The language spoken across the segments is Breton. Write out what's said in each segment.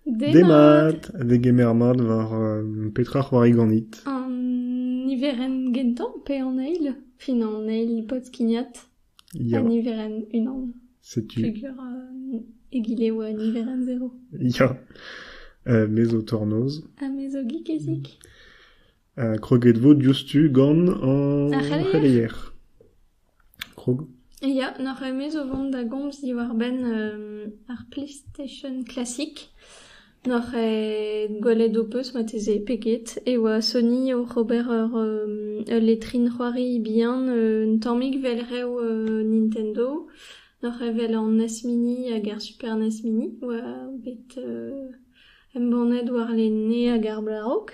Demat! a degemer mat war petra c'hoari ganit. An niverenn gentañ pe an eil? Fin an eil pod-kignat. Ya. Ha niverenn unan. Setu. Peogwir egile e oa niverenn zero. Ya. me zo tornoz. Ha me zo gikezik. Kroget 'vo diouzhtu gant an c'heleier. Krog. Ya, n'oc'h ket o vont da gomz diwar-benn ar PlayStation Classic. N'oc'h ket gwelet ho peus marteze peget e oa Sony oc'h ober ur letrin c'hoari bihan un tammig 'vel rev Nintendo. N'oc'h ket 'vel an NES Mini hag ar Super NES Mini oa bet embannet warlene hag ar Blarock.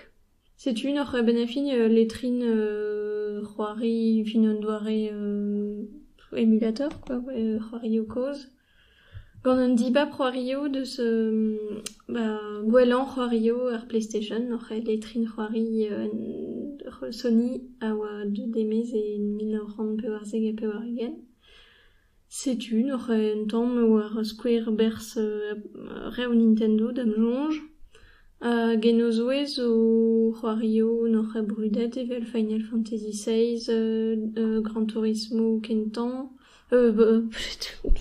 Setu un oc'h bennafi letrin c'hoari evit un doare emulator quoi, c'hoarioù kozh. Gant un dibab c'hoarioù deus ba gwellañ c'hoarioù ar PlayStation oc'h letrin c'hoari Sony a oa deuet e-maez e mil nav c'hant pevarzek ha pevar-ugent. Setu neuze un tamm war skouer berzh rev Nintendo da'm soñj. Hag en o zouez o c'hoarioù noc'h brudet evel Final Fantasy XVI, Gran Turismo kentañ,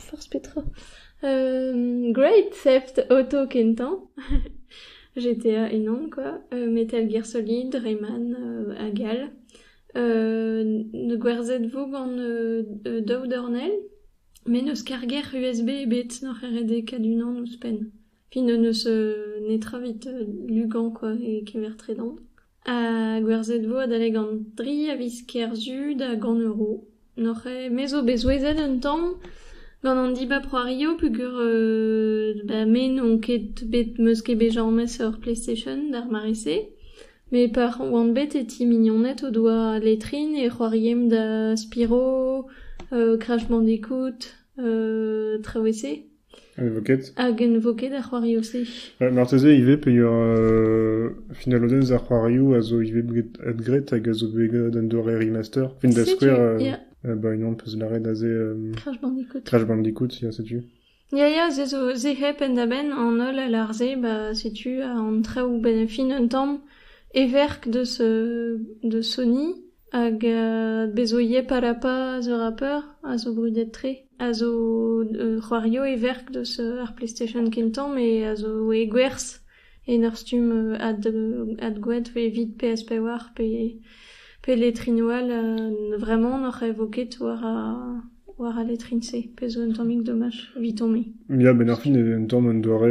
forzh petra, Great Theft Auto kentañ, GTA enan quoi, Metal Gear Solid, Rayman hag all. gwerzhet 'vo gant daou dornell met n'eus karger USB ebet n'oc'h redekaat unan ouzhpenn. Fin n'eus netra evit lugañ kwa e kever-tredan. Ha gwerzhet 'vo adalek an tri a viz Kerzu da gant euro. N'oc'h ket me zo bet souezhet un tamm gant an dibab c'hoario peogwir ba me n'on ket bet m'eus ket bet james ur playstation d'ar mare-se met pa oan bet e ti mignoned o doa letrin e c'hoariemp da Spyro, Crash Bandicoot, traoù e-se. Envoket. Hag envoket ar c'hoarioù-se. Marteze ivez peger euh, finalodenn ar c'hoarioù a zo ivez bet graet hag a zo bet graet un doare remaster. Fin da skouer, euh, euh, bah, unan peus lâret aze euh, Crash Bandicoot. Crash Bandicoot, ya, setu. Ya, ya, se zo se hep penn-da-benn an holl a lar se, bah, setu an traoù benn fin un tamm everk de, ce, de Sony, Hag bezo Yep Harappa a zo rapper, a zo brudet-tre, a zo c'hoario e verk deus ar PlayStation kentañ met a zo e gwerzh en ur stumm adgoad evit PS5 pe letrin-o all. Vraiment n'oc'h aevo ket war al letrin-se, pezh zo un tammig domaj evit tomp-me. Ya, benn ar fin eo un tamm un doare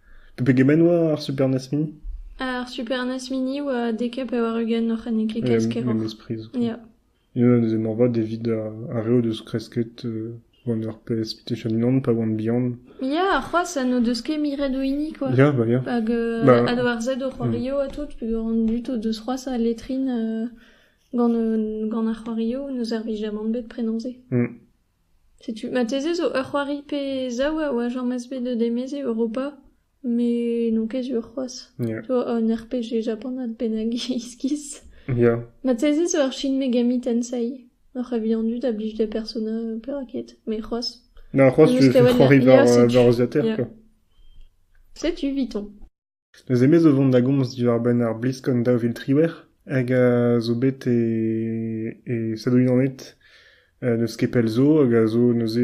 Pegement oa ar Super NES Mini? Ar Super NES Mini oa dek ha pevar-ugent oc'h en e klikaz keroc'h. Memes priz. Ya. Unan eus emorvad evit ar re o deus kresket euh, One RPS Mutation Land pa oant bihan. Ya, c'hoaz n'o deus ket miret o hini, quoi. Ya, bah, ya. Hag euh, Bah. a doar zet o c'hoario ha tout, peger an dud o deus c'hoaz a letrin euh, gant, euh, gant ar c'hoario, ne servij jamant bet prenañ-se. Mm. Setu, marteze zo ur c'hoari pe zaou a oa james bet deus emez e Europa, met n'on ket sur c'hoazh. Ya. Tu vois, un RPG japanat bennak iskis. Ya. Marteze zo ur Shin Megami Tensei. Oc'h evian dud a blij da Persona perak ket, mais c'hoazh. Non, c'hoazh, je, je croirais Il est voir, assez- euh, voir l'ordinateur, Yeah. quoi. setu, Vuitton. Neuze me zo vont da gomz diwar-benn ar BlizzCon daou vil triwec'h hag a zo bet e e Stadoù-Unanet n'eus ket pell zo hag a zo neuze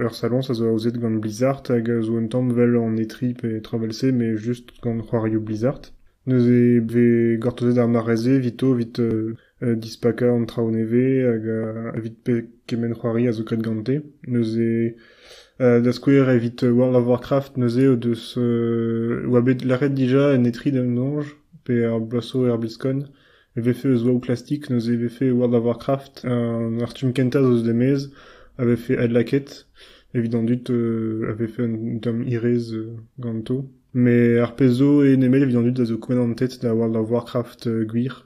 ur saloñs a zo aozet gant Blizzard hag a zo un tamm 'vel an E3 pe traoù 'vel-se mais just gant c'hoarioù Blizzard. Neuze 've gortozet ar mare-se evito 'vit Dispakañ an traoù nevez hag evit kement c'hoari a zo graet gante. Neuze da skouer evit World of Warcraft neuze o deus oa bet lâret dija en E3 d'an Ange pe er bloaz-zo er BlizzCon e vefe eus Wow Classic neuze e vefe World of Warcraft an artum kentañ eus er-maez a vefe adlakaet evit an dud a vefe un tamm hiraezh ganto. Mais ar pezh zo eo nemet evit an dud a zo kouent an tête da World of Warcraft gwir.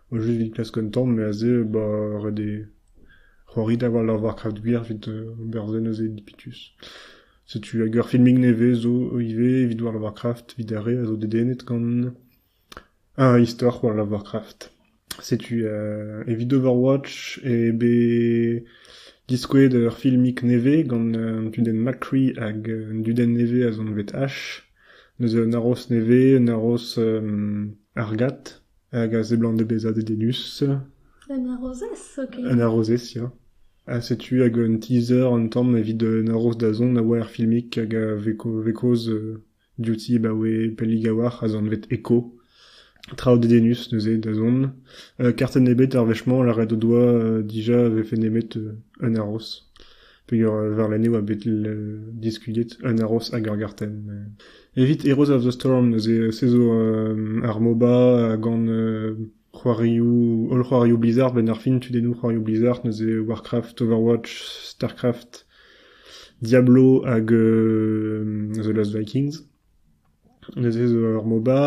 O just evit klask un tamm me aze ba ret eo c'hoari da wall ar Warcraft gwir evit ober se neuze dipitus. Setu hag ur filmig nevez zo ivez evit World of Warcraft evit ar re a zo dedennet gant ar istor World of Warcraft. Setu euh, evit Overwatch eo bet diskouezet ur filmig nevez gant un tudenn McCree hag un dudenn nevez a zo anvet Ash. Neuze un aros nevez, un aros euh, argat. Hag a seblant bezañ dedennus. Un arrozez zoken. Un arrozez, ya. Ha setu hag un teaser an tamm evit un arroz dazont a oa er filmig hag a vez kaoz diouti ebaoe pellik a-walc'h az anvet Eko. Traoù dedennus neuze dazont. Kartenn ebet ar wech-mañ lâret o doa dija e vefe nemet un arroz. Peogwir Varlene oa bet diskuliet un aros hag ur gartenn. Evit Heroes of the Storm neuze se zo ar MOBA gant c'hoarioù holl c'hoarioù Blizzard benn ar fin tudennoù c'hoarioù Blizzard neuze Warcraft, Overwatch, Starcraft, Diablo hag The Last Vikings. Neuze zo ur MOBA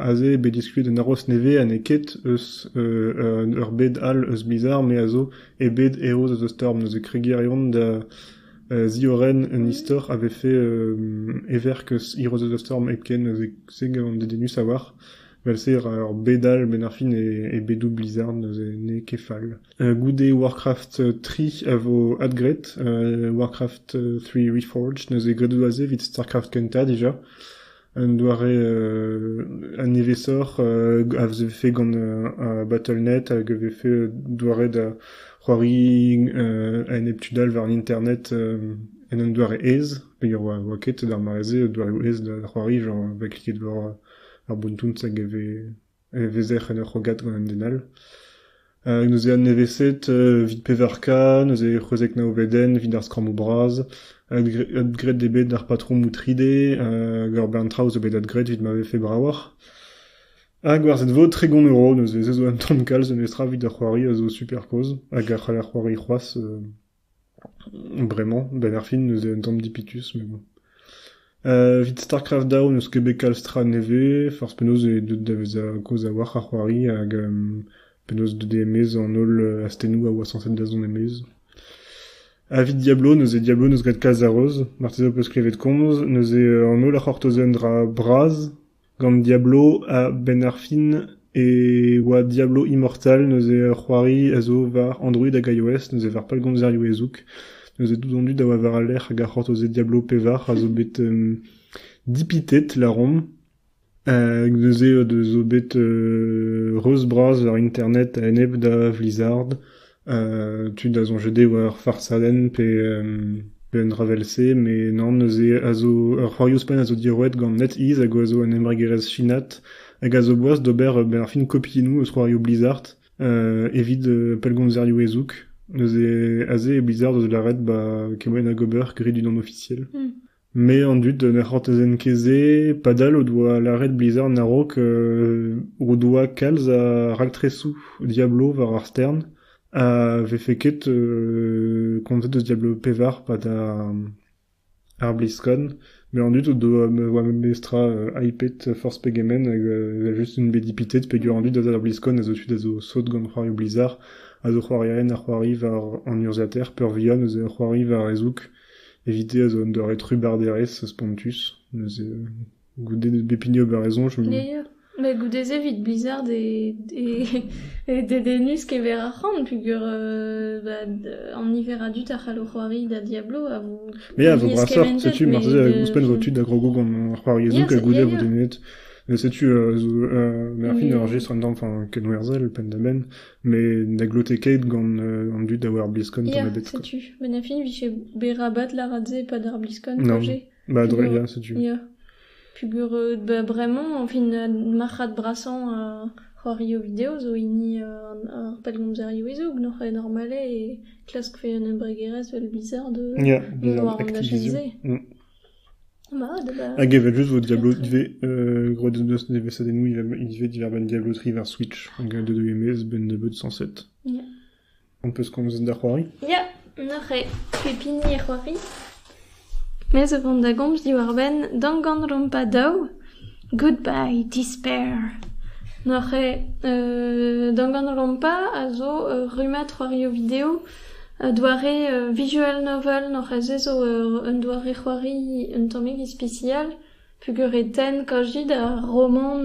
aze eo bet diskuliet un aroz nevez ha n'eo ket eus ur bed all eus Blizzard me a zo e bed Heroes of the Storm. Neuze kregiñ a reont da ziorren un istor a vefe everk eus Heroes of the Storm hepken. Neuze se gavan dedennus a-walc'h. Vel-se ur bed all benn ar fin e bedoù Blizzard neuze n'eo ket fall. Goude Warcraft tri a vo adgraet, Warcraft three Reforged neuze gradoù aze evit StarCraft kentañ dija, un doare un nevez-soc'h a vefe gant Battle.net hag a vefe doare da c'hoari a-enep tud all war internet en un doare aes, peogwir 'oa ket d'ar mare-se doareoù aes da c'hoari, genre va kliket war ar bountouz hag e vez... e vezer en ur c'hrogad gant an den all. Hag neuze an neveset evit pevar-k, neuze c'hwezek naouvedenn evit ar skrammou bras. Adgraet eo bet d'ar patrom Outride hag ur bern traoù zo bet adgraet evit ma vefe bravoc'h. Hag war cette vote tregont euro, neuze se zo un tamm kalz, un neus tra evit ar c'hoari a zo super kozh hag a c'hall ar c'hoari c'hoazh. Bremañ, benn ar fin neuze un tamm dipitus mais bon. Evit StarCraft Daou n'eus ket bet kalz tra nevez, forzh penaos eo deuet da vezañ kaoz a-walc'h ar c'hoari hag penaos deuet eo e-maez an holl astennoù a oa sañset da zont e-maez. Evit Diablo neuze Diablo n'eus graet kalz a reuz, marteze ho peus klevet komz, neuze an holl a c'hortoze un dra bras. Gant Diablo a-benn ar fin e oa Diablo Immortal neuze ur c'hoari a zo war Android hag iOS neuze war pellgomzerioù ezoug neuze dizondu da oa war al lec'h hag ar c'hortozed Diablo pevar a zo bet dipitet lâromp hag neuze o deus zo bet reuz-bras war internet a-enep da Blizzard tu da soñjet eo ar farsadenn pe un dra evel-se met nann neuze a zo ar c'hoarioù spagn a zo diorroet gant NetEase hag a zo un embregerezh chinat hag a zo boas d'ober ben ar fin kopiennoù eus c'hoarioù Blizzard evit pellgomzerioù ezoug neuze aze Blizzard a zo lâret ba kemmoù hag ober grit unan ofisiel. Me an dud ne c'hortozent ket-se padal o doa lâret Blizzard a-raok o doa kalz a raktresoù Diablo war ar stern ha vefe ket komzet eus Diablo pevar pad ar BlizzCon met an dud o doa memestra hypet forzh pegement hag evel-just int bet dipitet peger an dud a za d'ar BlizzCon a zo tud a zo sot gant c'hoarioù Blizzard a zo c'hoarierien a c'hoari war an urzhiataer peurvihan eus c'hoari war e zoug Evit-se a zo un doare trubarderezh spontus, neuze goude bep hini ober e soñj. Met goude-se evit Blizzard eo dedennus kever ar c'han peogwir an niver a dud a c'hallo c'hoari da Diablo a vo... Ya, a vo brasoc'h, setu marteze ouzhpenn vo tud a grogo gant ar c'hoariezhoù hag goude a vo dedennet. Setu, merc'h int ur jestr un tamm kenwerzhel penn-da-benn, Met ne glote ket gant euh, an dud da war BlizzCon tamm ebet. Quoi. setu, met na fin vije berabat laradet epad ar BlizzCon non. Bah dre ya setu. Ya. Pugur euh, bah, vraiment, enfin marc'had brassant euh, c'hoario video zo hini ar pelgomzer iwezo gnoc'h e normale e klask fe un embregerez vel bizarre de yeah, bizarre, war an Hag evel-just vo Diablo ivez groet en deus nevesadennoù ivez diwar-benn Diablo tri war Switch hag a deu e-maez benn nebeut cent sept. On peus komzet da c'hoari? Ya, neuze pep hini e c'hoari. Me zo vont da gomz diwar-benn Danganronpa daou. Goodbye Despair. Neuze Dangan Lompa a zo ur rummad c'hoarioù-video, doare visual novel. Neuze zo un doare c'hoari un tammig ispisial peogwir e tenn kaozi da romant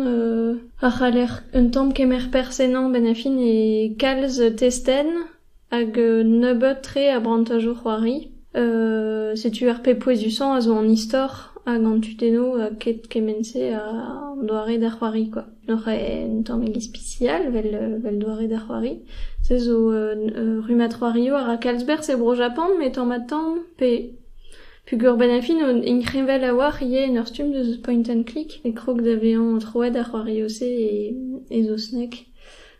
a c'haller un tamm kemer perzh ennañ benn ar fin e kalz testenn. Hag un nebeud-tre a brantajoù c'hoari. setu ar pep pouezusañ a zo an istor hag an tudennoù ha ket kement-se an doare da c'hoari kwa. Oc'h un tammig ispisial 'vel doare da c'hoari. Se zo rummad c'hoarioù a ra kalz berzh e Bro-Japan met tamm-ha-tamm pe peogwir 'benn ar fin int kreñvaet a-walc'h ivez en ur stumm deus point and click e krog da vezañ troet ar c'hoarioù-se e saozneg.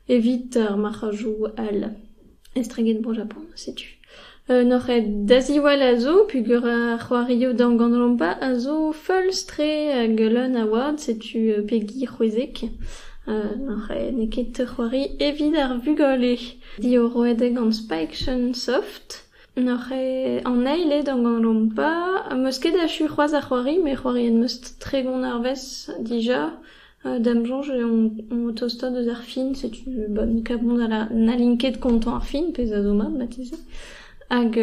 Evit ar marc'hajoù all estreget Bro Japon, setu. N'oc'h ket da ziwall a zo peogwir ar c'hoarioù damganolompa a zo feulz-tre hag leun a wad, setu pegi c'hwezek. n'eo ket c'hoari evit ar vugale. Diorroet gant Spike Soft. N'oc'h ket an eil eo damganolompa. 'm eus ket achu c'hoazh ar c'hoari met c'hoarien 'm eus tregont arvest dija. D'am soñj eo tostaat eus ar fin, setu bon kabont ha n'hallin ket kontañ ar fin, pezh a zo mat marteze, hag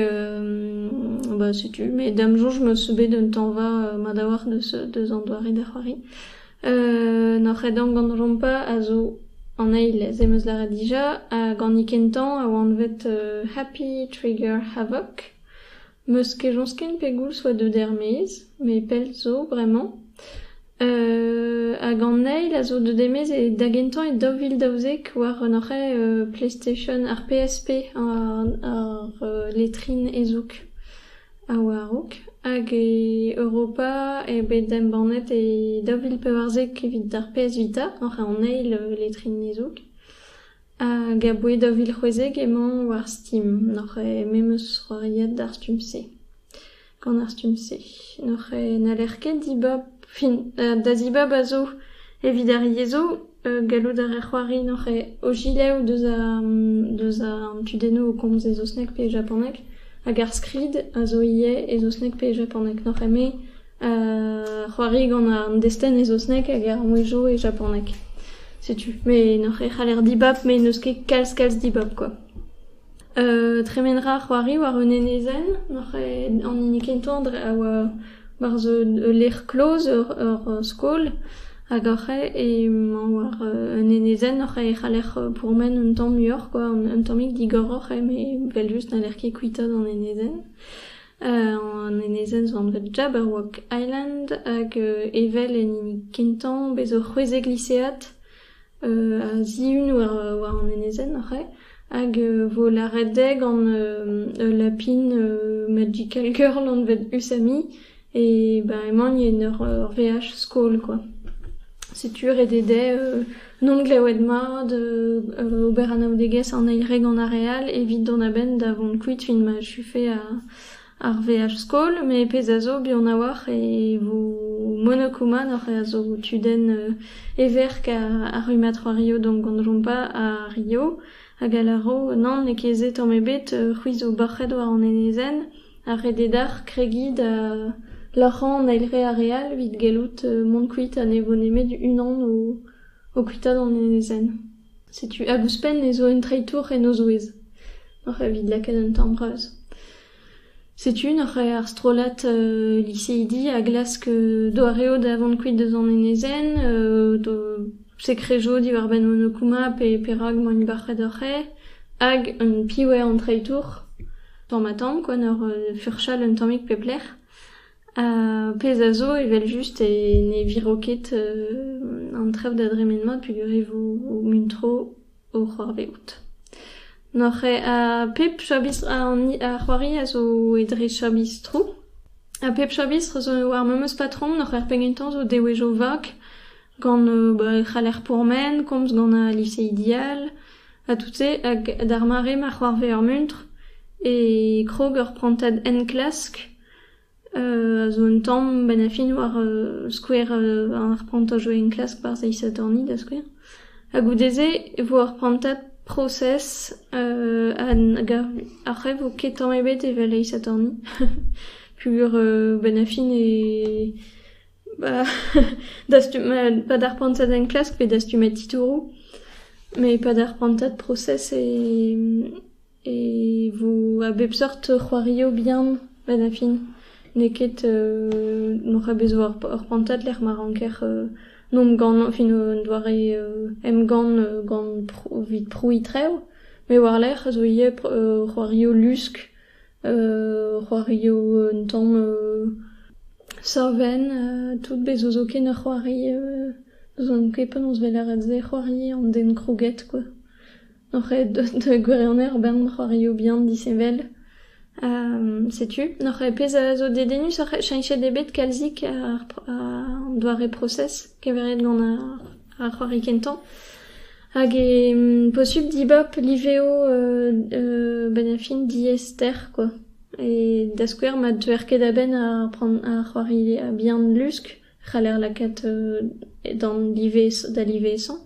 ba setu met d'am soñj 'meus bet un tañva mat a-walc'h deus an doare da c'hoari. N'hor c'hedamp gant Jompa a zo an eil se 'meus lâret dija, hag hini kentañ a oa anvet Happy Trigger Havoc. 'Meus kejañs ken pegoulz 'oa deut er-maez, met pell zo bremañ. hag an eil a zo deut e-maez da gentañ e daou vil daouzek war hoc'h PlayStation, ar PSP, ar letrin ezoug a oa a-raok. Hag e Europa eo bet embannet e daou vil pevarzek evit ar PS Vita, oc'h an eil letrin ezoug. Hag aboae daou vil c'hwezek emañ war Steam. N'oc'h me 'm eus c'hoariet d'ar stumm-se. Gant ar stumm-se. N'oc'h n'haller ket dibab fin da zibab a zo evit ar yezh zo. Gallout a raer c'hoari n'oc'h o gilaou deus ar deus an tudennoù o komz e saozneg pe e japaneg. Hag ar skrid a zo ivez e saozneg pe e japaneg. N'oc'h me c'hoari gant an destenn e saozneg hag ar mouezhioù e japaneg, setu. Met n'hoc'h e c'haller dibab met n'eus ket kalz-kalz dibab kwa. tremen ra c'hoari war un enezenn, n'hoc'h e- an hini kentañ a oa war ul lec'h kloz, ur skol, hag hoc'h emañ war un enezenn hoc'h e c'haller pourmen un tamm muioc'h kwa, un tammig digoroc'h eo met 'vel-just n'haller ket kuitaat an enezenn. An enezenn zo anvet Jabberwock Island hag evel en hini kentañ bez' zo c'hwezek lisead a zihun war an enezenn hoc'h ae hag vo lâret dezhe gant ul lapin magical girl anvet Usami e ben emañ en ur veaj skol kwa. Setu ret eo dezhe N'on klevet mat ober anaoudegezh an eil re gant ar re all evit dont a-benn da vont kuit fin ma achufe ar veaj-skol. Met pezh a zo buan a-walc'h e vo monokouman ar re a zo o tudenn e verk ar rummad c'hoario donc gant Jompa ha Rio. Hag a lâro nann n'eo ket se tamm ebet, c'hwi zo bac'het war an enezenn a rede deoc'h kregiñ da loc'hañ an eil re ar re all evit gallout mont kuit ha ne vo nemet unan o kuitaat an enezenn. Setu hag ouzhpenn ez zo un treitour en o zouez, oc'h evit lakaat un tamm reuz. Setu nac'h ar strollad liseidi a glask doareoù da vont kuit deus an enezenn, sekre zo diwar-benn Monokuma pe perak emañ Ilibarc'hed ur c'hêr, hag un piv eo an treitour, tamm ha tamm kwa, n'eur furchal un tammig pep lec'h. Ha pezh a zo evel-just e ne viro ket an traoù da dremen mat peogwir e vo muntro. o c'hoarvezout. N'oc'h ket ha pep chabistr ar c'hoari a zo e dre chabistroù. Ha pep chabistr zo ar memes patrom. N'oc'h ket pegen kentañ zo dewezhioù vak gant e c'haller pourmen, komz gant al liseidi all ha tout-se. Hag d'ar mare ma c'hoarve ar muntr e krog ur prantad enklask. a zo un tamm bennafin war skouer ar prantad zo enklask war zeiz Sadorni da skouer. Ha goude-se e vo ur prantad prosez hag après vo ket tamm ebet evel eiz Sadorni peogwir bennafin e ba dastum pa d'ar prantad enklask pe dastumad titouroù met pad ar prantad prosez e E vo a bep seurt c'hoarioù bihan ba da fin. N'eo ket n'oc'h a bet zo ur prantad lec'h ma ranker emgann fin un doare emgann gant evit prouiñ-trev. Met war-lerc'h zo ivez c'hoarioù lusk, c'hoarioù un tamm savenn, tout bez zo zoken ur c'hoari. N'ouzon ket penaos 'vel lâret se, c'hoari an den krouget kwa. Oc'h aet deus da gwirionez ober ma c'hoarioù bihan disheñvel setu oc'h aet pezh a zo dedennus oc'h cheñchet eo bet kalzik an doare prosez kevret gant ar c'hoari kentañ hag eo posubl dibab liveoù benn ar fin diaester kwa, da skouer ma teuer ket a-benn ar c'hoari bihan lusk. c'haller lakaat d'an livezh da livesañ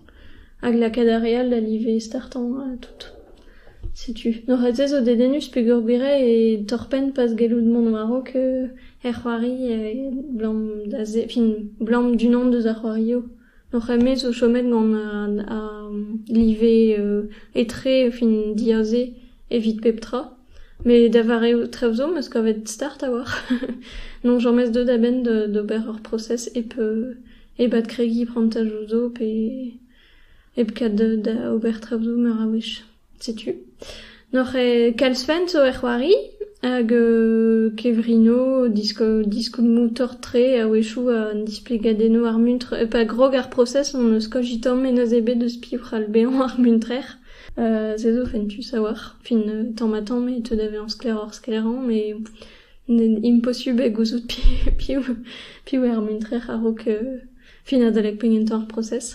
hag lakaat ar re all da live startañ tout. Setu. Neuze zo dedennus peogwir eo torr-penn pas gallout mont war-raok er c'hoari abalamour da se, fin abalamour d'unan deus ar c'hoarioù. Hor c'hemmoù zo chomet gant ar live etre fin diaze evit pep tra. Met da vare ho traoù zo 'm eus kavet start a-walc'h. Non james deut a-benn d'ober ur prosez hep hep adkregiñ prantadoù zo pe hep kat da ober traoù zo meur a wech. Setu. N'oc'h ket kalz fent zo er c'hoari hag kevrino, diskoulmoù-torr-tre a-wechoù, an displegadennoù, ar muntr. Pa grog ar prosez hon eus kojitamp mennoz ebet eus piv c'hall bezañ ar muntrer. Se zo fentus a-walc'h. Fin tamm-ha-tamm e teu da vezañ sklaeroc'h-sklaerañ met imposubl eo gouzout piv eo ar muntrer a-raok fin adalek pegement tamm ar prosez.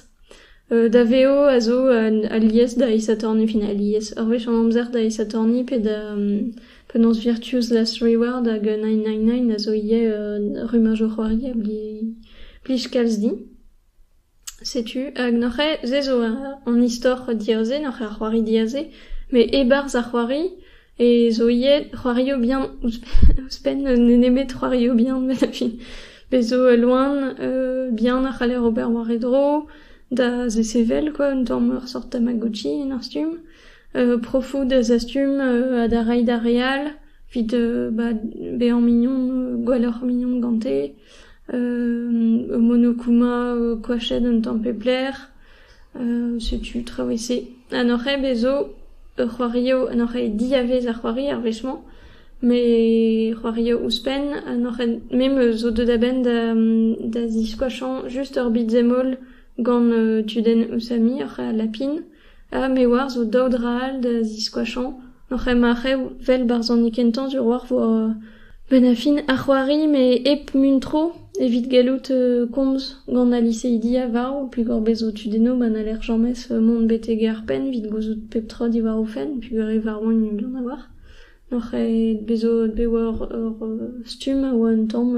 Da vezo a zo alies da isatorniñ fin alies. Ur wech an amzer da isatorniñ pe da penaos virtues last reward hag nine nine nine a zo ivez rumajoù c'hoarier plij kalz din. Setu hag n'oc'h ket se zo an istor diaze, n'oc'h ket ar c'hoari diaze, met e-barzh ar c'hoari E zo ivez c'hoario bihan ouzhpenn nemet c'hoario bihan 'vel a fin. Bez' zo loen bihan a c'haller ober war e dro da zesevel kwa un tamm ur sort tamagotchi en ur stumm. profoù da zastum ha da reiñ d'ar re all evit bezañ mignon, gwelloc'h mignon gante. monokuma koachet un tamm pep lec'h. setu traoù e-se. An hoc'h-ae bezo ur c'hoario, an hoc'h-ae diavez ar c'hoari ar wech-mañ, met c'hoario ouzhpenn. An hoc'h-ae me 'm eus zo deuet a-benn da ziskoachañ just ur bitsemmol gant tudenn Osami, hoc'h-ae Lapin. Ha me oar zo daou dra all da ziskoachañ oc'h ema rev 'vel barzhoneg kentañ du roac'h war benn ar fin ar c'hoari met hep muntro evit gallout komz gant al liseidi a varv peogwir bez' zo tud eno ma n'haller james mont betek ar penn evit gouzout pep tra diwar o fenn peogwir e varvont int an oar. N'oc'h ket bet zo bet war ur stumm a oa un tamm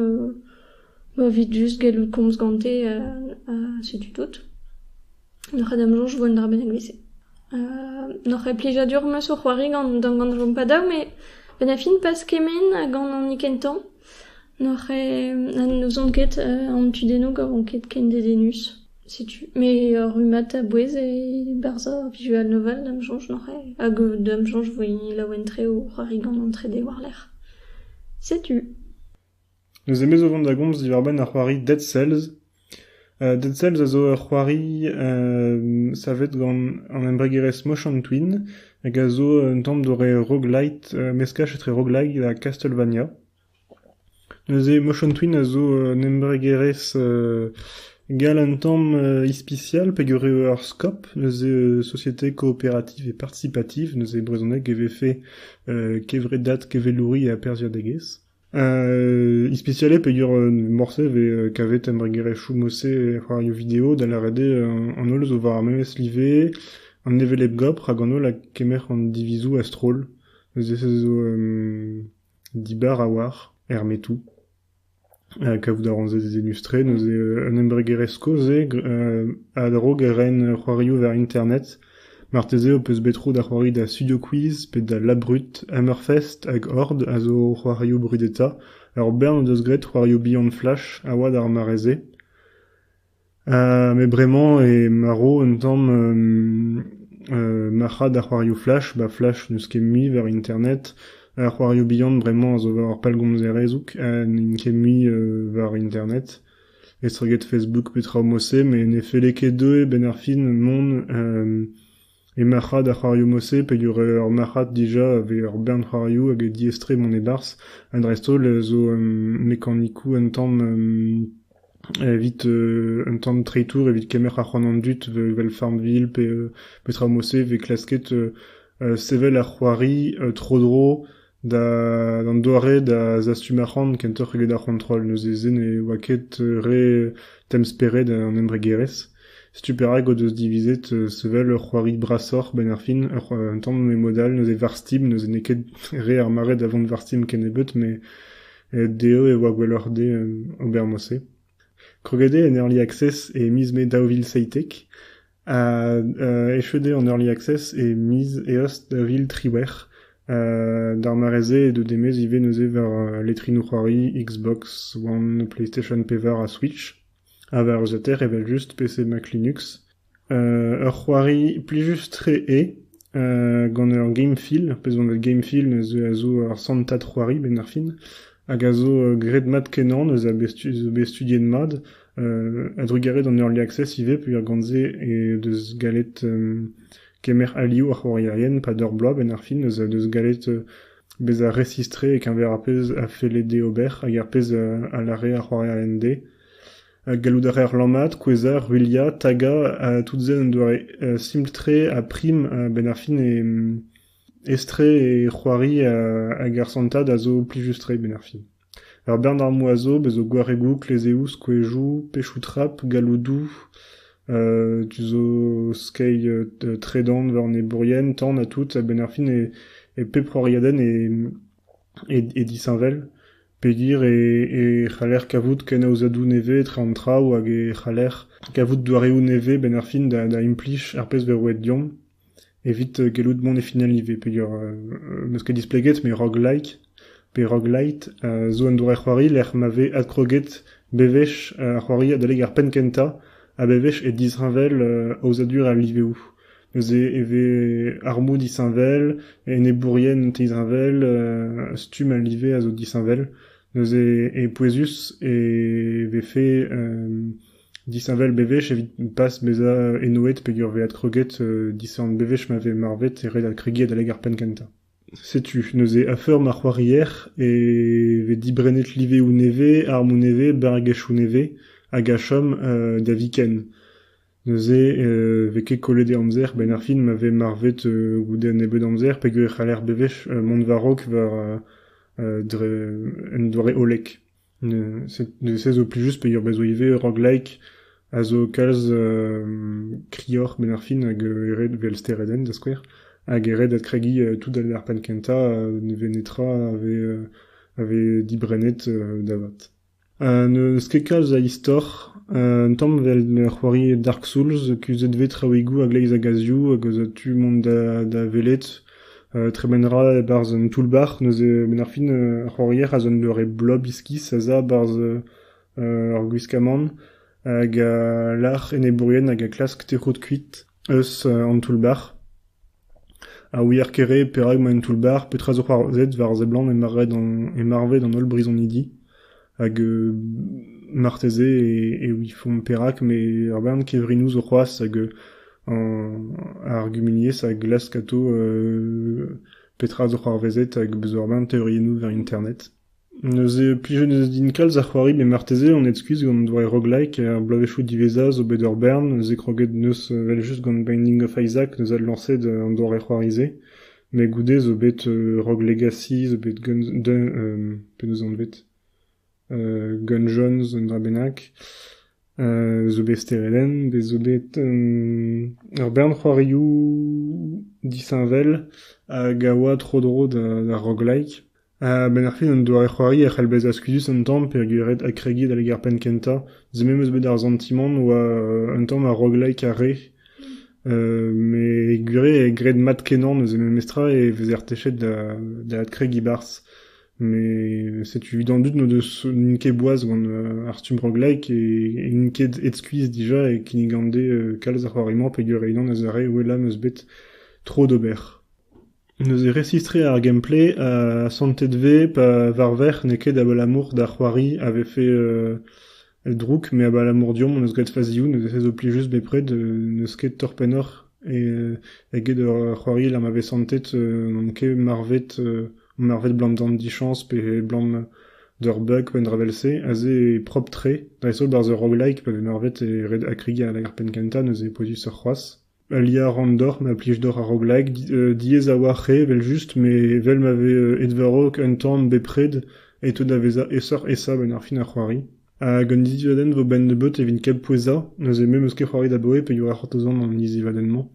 Ma evit just gellout komz gante ha setu tout. N'oc'h ket da'm soñj e vo un dra bennak evit-se. N'oc'h ket plijadur ma so c'hoari gant gant va padao met benn ar fin pas kement ha gant honi kentañ n'oc'h ket n'ouzon ket an tudennoù gant vo ket ken dedennus. Setu. Met ur rummad a-bouez e-barzh ar visual novel da'm soñj n'oc'h ket hag da'm soñj e vo laouen-tre o c'hoari gant an trede war-lerc'h. Setu. Neuze me zo o vont da gomz diwar-benn ar c'hoari Dead Cells. Dead Cells a zo ur c'hoari savet gant an embregerezh Motion Twin hag a zo un tamm doare roguelite, meskaj etre roguelike ha Castlevania. Neuze Motion Twin a zo un embregerezh gall un tamm ispisial peogwir eo ur skop, neuze société coopérative et participative, neuze e brezhoneg e vefe kevredad kevelouri ha perzhiadegezh. Ispisialez peger morse e vez kavet embregerezhioù morse e c'hoarioù video, da lâret eo an holl zo war ar memes live, an hevelep gopr hag an holl a kemer an divizoù a-stroll. Neuze se zo dibar a-walc'h er metoù. Kavout a ran se dezenustre, neuze un embregerezh kozh eo a drog ren c'hoarioù war internet. Marteze ho peus bet tro da c'hoari da Studio Quiz pe da Labrut, Hammerfest hag Horde a zo c'hoarioù brudetañ, ur bern o deus graet c'hoarioù bihan Flash a oa d'ar mare-se. met bremañ eo marv un tamm marc'had a c'hoarioù Flash, ba Flash n'eus ket mui war internet, ar c'hoarioù bihan bremañ a zo war ar pellgomzerezh n'int ket mui war internet. estreget Facebook petra mod-se met ne felle ket dezhe a-benn ar fin mont e marc'had ar c'hoarioù-mod-se peogwir ur marc'had dija evit ur bern c'hoarioù hag eo diaes-tre mont e-barzh ha dreist-holl zo mekanikoù un tamm evit un tamm treitour evit kemer ar c'hoant an dud evel Farmville pe petra mod-se e vez klasket sevel ar c'hoari tro-dro D'an doare da zastum arc'hant kentoc'h eget ar c'hontrol. Neuze se ne oa ket re temz-spered an embregerezh. Setu perak o deus divizet sevel ur c'hoari brasoc'h 'benn ar fin. Un tamm mod-all. Neuze Varstim, neuze n'eo ket re ar mare da vont Varstim kennebeut, met dezho e oa gwelloc'h dezhe ober mod-se. Kroget eo en Early Access e miz Mae daou vil seitek. Echuet eo an Early Access e miz Eost da vil triwec'h. D'ar mare-se edo demez ivez neuze war letrinoù-c'hoari Xbox One, PlayStation Pevar ha Switch. Ha war usater evel-just PC Mac Linux. Ur c'hoari plijus-tre eo, gant ur game feel, brezhoneg game feel neuze a zo ur santad c'hoari benn ar fin, hag a zo graet mat-kenañ, neuze a be studiet mat, A-drugarez d'an Early Access ivez peurgant-se he deus gallet kemer alioù ar c'hoarierien pad ur bloaz benn ar fin eus deus gallet bezañ resis-tre e-keñver ar pezh a felle dezhe ober hag ar pezh a lâre ar c'hoarierien dezhe. Gallout a reer lammat, kouezhañ, ruilhañ, tagañ ha tout se un doare simpl-tre ha prim benn ar fin etre e c'hoari hag ar santad a zo plijus-tre benn ar fin. Ur bern armoù a zo, bez' zo gwaregoù, klezeoù, skouezioù, pechoù-trap, galloudoù, tu zo skeiñ tredan war enebourien, tan ha tout. A-benn ar fin e pep c'horiadenn e disheñvel pegir e c'haller kavout kenaozadoù nevez etre an traoù hag e c'haller kavout doareoù nevez 'benn ar fin da implij ar pezh 'vez roet deomp. Evit gellout mont e final ivez peger n'eus ket displeget met roguelike pe roguelite zo un doare c'hoari lec'h ma vez adkroget bewech ar c'hoari adalek ar penn kentañ ha bewech e disheñvel aozadur al liveoù. Neuze e vez armoù disheñvel, enebourien teizheñvel, stumm al live a zo disheñvel. Neuze e pouezus e vefe Disheñvel bewech evit pas bezañ enoet peger vezañ kroget disheñvel-bewech ma vez marvet e red kregiñ adalek ar penn kentañ. Setu neuze a-feur ma c'hoarier e vez dibrennet liveoù nevez, armoù nevez, barregezhioù nevez hag a chom da viken. Neuze e vez ket kollet e amzer a-benn ar fin ma vez marvet goude un nebeud amzer peger e c'haller bewech mont war-raok war un doare hollek. Neuze zo plijus peogwir bezo ivez rock-like a zo kalz krioc'h benn ar fin hag eret evel steredenn da skouer hag eret adkregiñ tout d'ar penn kentañ ne vez netra a vez dibrennet da vat. N'eus ket kalz a istor, un tamm evel c'hoari Dark Souls kuzhet 'vez traoùigoù a-gleiz a gazioù hag eus tu mont da welet. Tremen 'ra e-barzh un toull-bac'h, neuze benn ar fin ar c'hoarier a zo un doare blob iskis a za 'barzh ur gwiskamant hag a lâr enebourien hag a klask tec'hout kuit eus an toull-bac'h. Ha ouier kere perak emañ un toull-bac'h, petra zo c'hoarzhet war a seblant e marvet an holl brizonidi. Hag marteze e ouifomp perak, met ur bern kevrinoù zo c'hoazh hag ar gumuniezh a glask atav petra zo c'hoarvezet hag beus ur bern teoriennoù war internet. Neuze plije neus din kalz a c'hoari met marteze on aet-skuizh gant doare roguelike ar bloavezhioù diwezhañ zo bet ur bern neuze kroget neus evel-just gant Binding of Isaac neus adlañset an doare c'hoari-se. Met goude zo bet rock legacy, zo bet penaos anvet Gun Jones, un dra bennak, zo bet Stereden, bet zo bet ur bern c'hoarioù disheñvel hag a oa tro-dro da rock-like. A-benn ar fin, un doare-c'hoari a c'hell bezañ skuizhus un tamm peogwir eo kregiet al ger-penn kentañ. Se memes eus bet ar santimant 'oa un tamm a roguelike ar re. Met gwir eo graet mat-kenañ neuze memestra e vezer techet da da adkregiñ barzh. Met setu evit an dud n'o deus n'int ket boaz gant ar stumm roguelike e n'int ket aet skuizh dija e kinnig gante kalz a c'hoari-mañ peogwir e-unan ez a re ouelañ 'm eus bet tro d'ober. Neuze resistriñ ar gameplay ha santet 'vez pa varvec'h n'eo ket abalamour da c'hoari a vefe drouk met abalamour deomp hon eus graet fazioù neuze se zo plijus just bepred n'eus ket tor pennoc'h eget c'hoari lec'h ma vez santet n'on ket marvet marvet 'blam dichañs pe 'blam d'ur bug pe un dra vel-se aze eo propr-tre dreist-holl barzh ur roguelike pa vez marvet e ret ha krigañ lag ar penn kentañ neuze e pouezusoc'h c'hoazh. Aliañ a ran deoc'h ma plij deoc'h ar roglañ diaes a-walc'h eo evel-just met evel ma vez edvarok un tamm bepred e teu da vezañ aesoc'h-aesañ a-benn ar fin ar c'hoari. Hag un dizivadenn 'vo benn-nebeut evit kempouezañ, neuze me 'm eus ket c'hoari da boe peogwir e c'hortozan an dizivadenn-mañ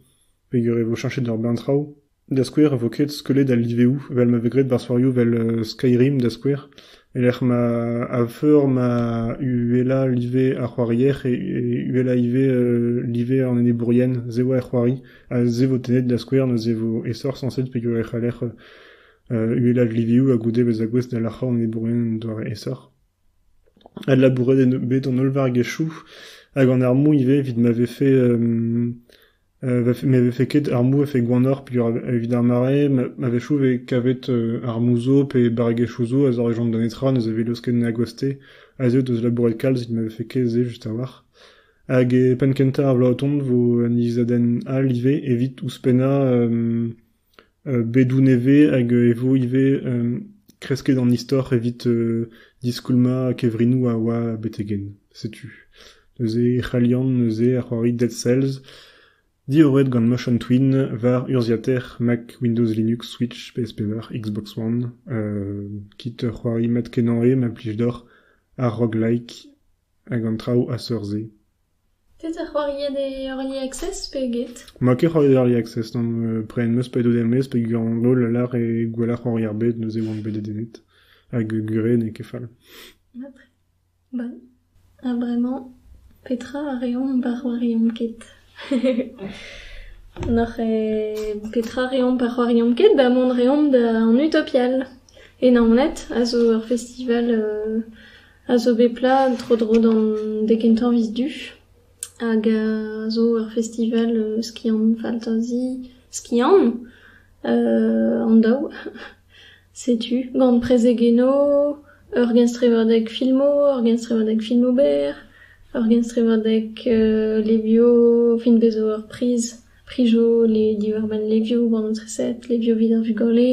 peogwir e vo cheñchet ur bern traoù. Da skouer, e vo ket skeulet al liveoù vel ma vez graet barzhourioù vel Skyrim da skouer, e-lec'h ma a-feur ma uhelañ live ar c'hoarier e uhelañ ivez live an enebourien, se oa er c'hoari, ha se vo tennet da skouer neuze e vo aesoc'h sañset peogwir e c'haller uhelañ liveoù ha goude bezañ gouest da lac'hañ an enebourien en doare aesoc'h. Adlabouret eo bet an holl vargezhioù hag an armoù ivez evit ma vefe Ne vefe ket ar mouezh gwannoc'h peogwir evit ar mare a-wechoù e vez kavet armoù-zo pe barregezhioù zo a zorjont da netra ne zavelez ket na gwaste a zeu deus labouret kalz evit ma vefe ket se just a-walc'h. Hag penn-kentañ ar bloaz o tont vo un ilizadenn all ivez evit ouzhpennañ Bedoù nevez hag e vo ivez kresket an istor evit diskoulmañ kevrinoù a oa betek-henn. Setu neuze e c'hallian neuze ar c'hoari Dead Cells diorret gant Motion Twin war urzhiataer Mac Windows Linux, Switch, PS5, Xbox One. kit ur c'hoari mat-kenañ eo ma plij deoc'h, ar roguelike hag an traoù a-seurt-se. Petra c'hoariet e Early Access pe get? Ma ket c'hoariet Early Access nann, prenet 'm eus pedoù er-maez peogwir an holl a lâr eo gwelloc'h c'hoari ar bed, neuze oan bet dedennet. Hag gure n'eo ket fall. Mat. Bon. Ha bremañ, petra a reomp pa c'hoariomp ket? N'oc'h eo petra reomp pa c'hoariomp ket da mont reomp da an Utopial. E Naoned a zo ur festival euh... a zo bet plat tro-dro d'an dek kentañ miz du hag a zo ur festival skiant faltazi skiant an daou. Setu gant prezegenno, ur genstrevadeg filmo, ur genstrevadeg filmo berr, ur genstrevadeg levio, fin bez zo ur priz, prijo diwar-benn levio, bannoù treset, levio evit ar vugale.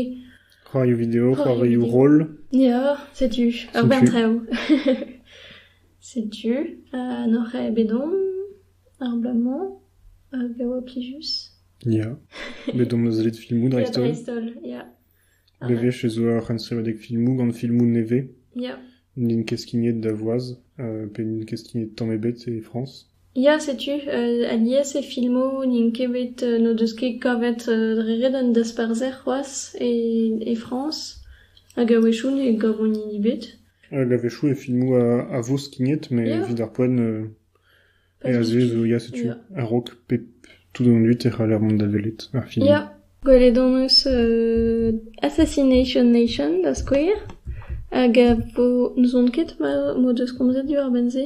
C'hoarioù-video, c'hoarioù-roll. Ya, setu ur bern traoù. setu uh, n'oc'h ket bet omp ar bloaz-mañ hag a oa plijus. Ya, bet omp eus led filmoù dreist-holl. Ya, dreist-holl, ya. Le vech zo ur c'henseriadeg filmoù gant filmoù nevez. Ya. N'int ket skignet da voaz, uh, pe n'int ket skignet tamm ebet e Frañs. Ya, setu, alies e filmoù n'int ket bet n'o deus ket kavet dre ret an dasparzher c'hoazh e e Frañs hag a-wechoù ne gavont hini ebet. Hag a-wechoù e filmoù a vo skignet met evit ar poent aze zo ya setu a-raok pep tout an dud e c'haller mont da welet ar film. Ya, gwelet hon eus Assassination Nation da skouer hag a vo n'ouzon ket m'o deus komzet diwar-benn se.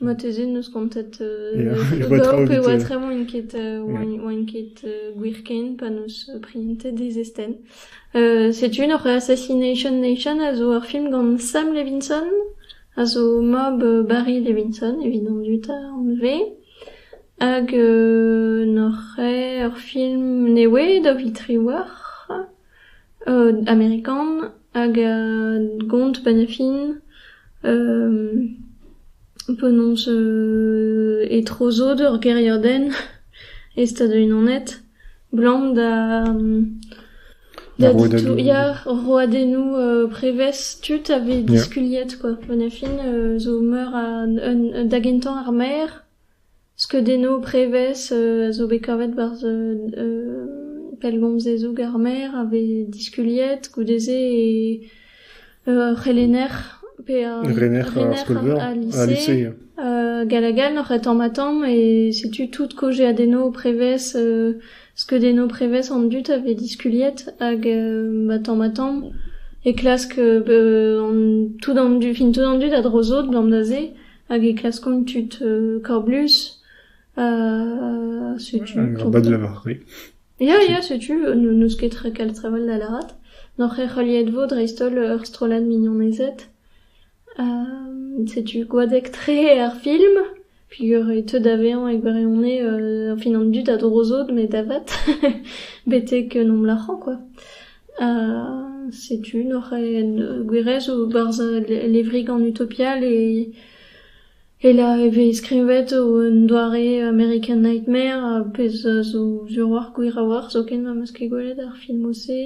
Marteze n'eus kontet d'eoc'h e oa tremañ ket oan ket gwir ken pa n'eus prientet e zestenn. Setu ur Assassination Nation a zo ur film gant Sam Levinson, a zo mab Barry Levinson evit an dud anvet, hag n'oc'h eo ur film nevez da viz Triwec'h. Amerikan hag gont penn ar fin, penaos e-tro sod ur gêriadenn e Stadoù-Unanet, 'blam da da ditouriñ ya roadennoù prevez tud a vez diskuliet quoi. Penn ar fin zo meur a da gentañ ar maer. Skeudennoù prevez a zo bet kavet barzh pellgomz dezhoù ar maer a vez diskuliet goude-se ur c'helenner pe ur rener al lise gall-ha-gall oc'h e tamm-ha-tamm e setu tout kaozeadennoù prevez skeudennoù prevez an dud a vez diskuliet hag ba tamm-ha-tamm e klask tout an dud fin tout an dud a dro sot gant da se Hag e klaskont tud kablus setu... Ya ya setu, n'eus ket kel trevell da lâret. N'oc'h ket heuliet 'vo dreist-holl ur strollad mignonezed. setu gwadek-tre ar film peogwir e teu da vezañ e gwirionez fin an dud a dro sot met avat betek nomp lârañ kwa. Setu neuze gwirezou 'barz al levrigan utopial e-lec'h e vez skrivet un doare American Nightmare ar pezh a zo sur-walc'h gwir a-walc'h zoken ma 'm eus ket gwelet ar filmoù-se.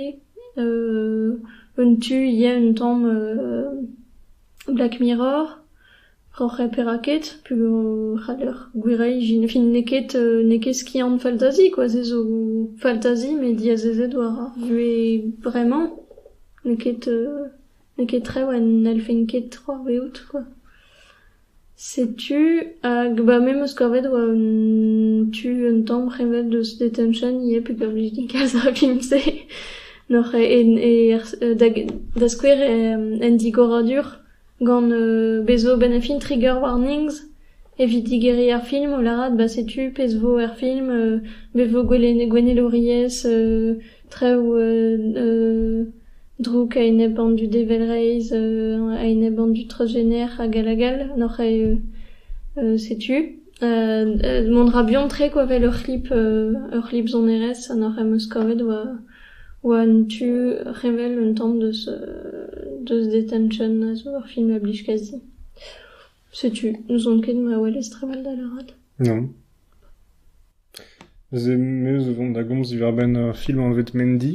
Un tu ivez un tamm Black Mirror. Oc'h eo perak ket ? Peogwir 'c'haller gwiriañ ijin. Fin n'eo ket n'eo ket skiant faltazi kwa, se zo faltazi met diazezet war ar vuhez bremañ. N'eo ket n'eo ket trev ha n'hellfen ket c'hoarvezout kwa. Setu hag ba me 'm eus kavet oa un tu un tamm c'heñvel deus detention ivez pe gant blij din kalz ar film-se. N'oc'h ket e da skouer en digoradur. Gant bez zo benn ar fin Trigger warnings evit digeriñ ar film o lârat ba setu pezh vo er film be vo gwennelouriezh traoù drouk a-enep an dud evel reizh a-enep an dud transjener hag all hag all, n'oc'h ket setu. Mont 'ra buan-tre kwa 'vel ur c'hlip ur c'hlip sonerezh ha nac'h em eus kavet oa oa un tu revel un tamm deus deus Detention a zo ur film a blij kazi. Setu n'ouzon ket ma welez trawalldall arall. Non. Me 'zo vont da gomz diwar-benn ur film anvet Mendy.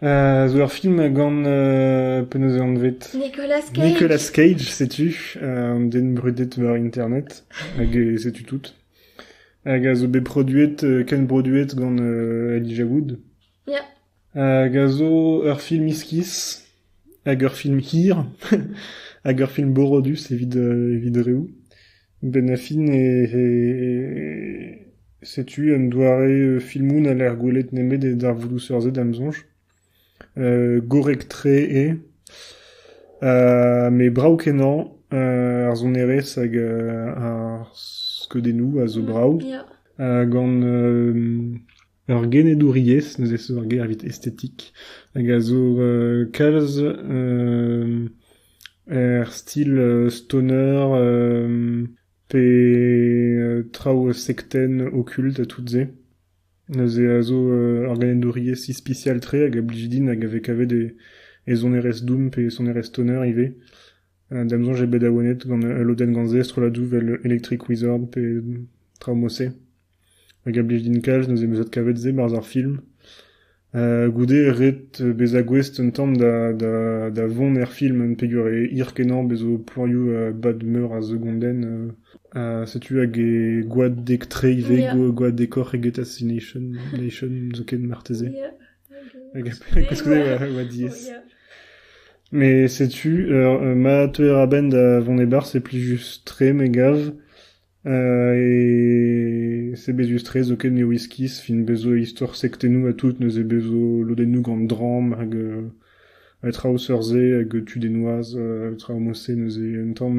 zo ur film gant penaos eo anvet Nicolas Cage setu an den brudet war internet hag setu tout hag a zo bet produet kenbroduet gant Elijah Wood hag a zo ur film iskis hag ur film hir hag ur film borodus evit evit reoù Benafin eo setu un doare filmoù n'haller gwelet nemet e darvoudoù seurt-se da'm soñj. Gorrek-tre eo, met brav-kenañ ar sonerezh hag ar skeudennoù a zo brav gant Ur genedouriezh neuze zo ur ger evit estetik hag a zo kalz er stil stoner pe traoù sektenn okult ha tout-se. Neuze a zo ur genedouriezh ispisial-tre hag a blij din hag a vez kavet e sonerezh doom pe sonerezh stoner ivez. Da'm soñj eo bet awenet gant ul lodenn gant se, strolladoù 'vel Electric Wizard pe traoù-mod-se. hag a blij din kalz neuze 'm eus adkavet se 'barzh ar film. goude ret bezañ gouest un tamm da vont er film peogwir e hir-kenañ bezo planioù bad-meur a segondenn setu hag e gwadek-tre ivez gwadekoc'h eget Assassination zoken marteze koulskoude e oa diaes mais setu ma teuer a-benn da vont e-barzh c'est plus juste 'tre me gav Sebezus-tre zoken eo iskis fin bezo istor sektennoù ha tout, neuze bezo lodennoù gant dramm hag traoù seurt-se hag tudennoaz, traoù mod-se neuze un tamm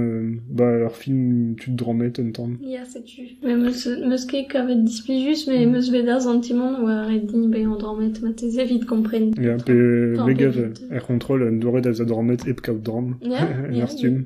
ba ur film tud drammet un tamm. Ya setu, me'm eus ket kavet displijus me em eus bet ar santimant oa ret din bezañ drammet marteze evit kompren. Ya pe me gav er c'hontrol un doare da vezañ drammet hep kaout dramm er stumm.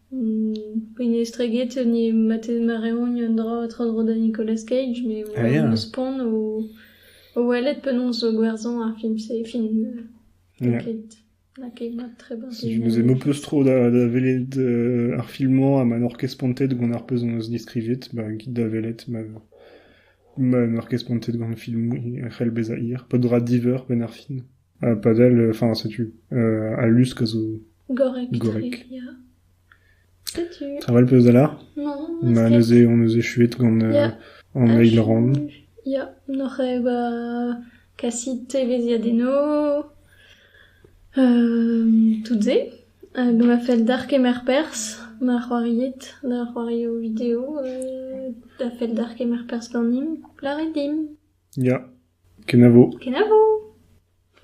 Pegistregezh hini matetez mareoñ un dra tro-dro da Nicolas Cage met eus poan o welet penaos zo gwerzhañ ar film-se fin n'eo ket n'a ket mat trebarzh je me aime un peu trop da da welet ar film-mañ ha ma n'oc'h ket spontet gant ar pezh hon eus deskrivet ba kit da welet ma ma n'oc'h ket spontet gant film e c'hell bezañ hir peadra diveur penn ar fin padal, enfin, setu, al lusk a zo... Gorrek. Gorrek. ya. Setu. Travail peus da lar? Non. Ma neuze, on neuze chuet gant euh, an eil rang. Ya, n'oc'h ba kasit teveziadeno, euh, tout ze. Hag ma fel d'ar kemer pers, ma c'hoariet, da c'hoario video, euh, da fel d'ar kemer pers ganim, laret dim. Ya, kenavo. Kenavo!